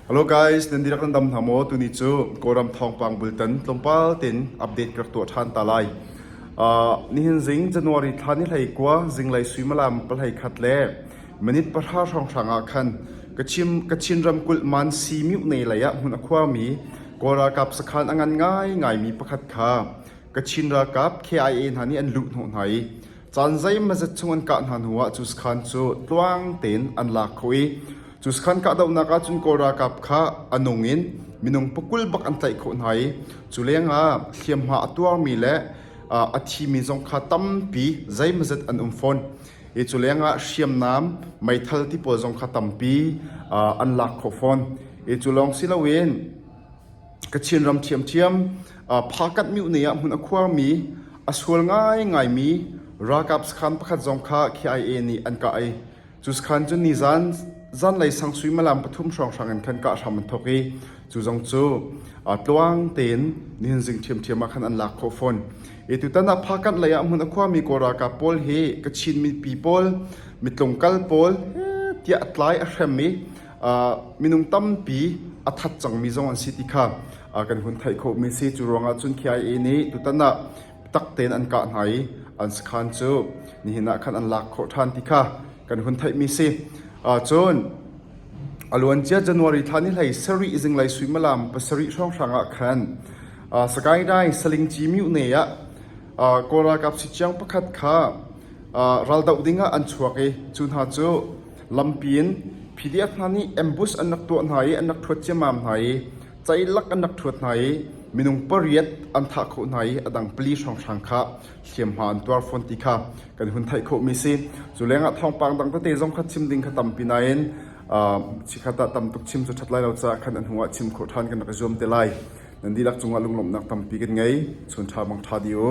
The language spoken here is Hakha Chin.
Hello guys, nan dirak nan dam hna maw? Tuni cu Kawlram thawngpang bultan tlawmpal tin update ka tuah ṭhan ta lai. Uh, nihin zing January thla ni hlei kua zinglei suimalam palhei khat le minute pahra hrawnghrang ah khan kachin kachin ramkulh man si miu nei lei ah hmun akhuami Kawl ralkap sakhan angan ngai ngai mi pakhat kha Kachin ralkap KIA hna nih an luh hnawh hna i Caan zeimazet chung an kah hna hnuah cuskhan cu tluang tein an lak kho i cuskhan kahdohnak ahcun Kawl ralkap kha a nung in minung pakul bak an tlaih khawh hna i cu lengah hliamhma a tuarmi le a thimi zong kha tampi zeimazet an um fawn i cu lengah hriamnam meithal ti pawl zong kha tampi an lak khawh fawn i cu lawng si loin Kachin ram ṭhiamṭhiam, Phakanh miohnei ah hmun a khuarmi, a sual ngaingaimi ralkap sakhan pakhat zong kha KIA nih an kah i cu sakhan cu nizan zanlei sang suimilam pathum hrawnghrang in khan kah hram an thawk i cu zong cu tluang tein nihnzing ṭhiamṭhiam ah khan an lak khawh fawn. Hi tutan ah Phakanh lei ah hmun a khuarmi Kawl ralkap pawl hi Kachin mipi pawl, mitlung kal pawl tiah tlai a hrem i minung tampi a that cangmi zong an si ti kha kan hun theih khawhmi si cu ruangah cun KIA nih tutan ah tak tein an kah hna i an sakhan cu nihin ah khan an lak khawh ṭhan ti kha kan hun theihmi si cun aluancia january thla ni hlei sarih zinglei suimalam pasarih hrawnghrang ah khan sagaing dai saling cimiu ne ah kawl ralkap si chiang pakhat kha raldoh ding ah an chuak i cu hna cu Lampi in PDF hna nih ambush an rak tuah hna i an rak ṭhuat ciammam hna i ceilak an rak ṭhuat hna i minung pariat an thah khawh hna i a dang pali hrawnghrang kha hliamhma an tuar fawn ti kha kan hun theih khawhmi si. Cu lengah thawngpang dang tete zong kha chim ding kha tampi nain chikkhat ah tam tuk chim cu ṭhat lai lo caah khan a hnuah chim khawh ṭhan kan rak i zuam te lai. Nan dihlak cungah lunglawmhnak tampi kan ngei. Chun ṭha bang ṭha dih u.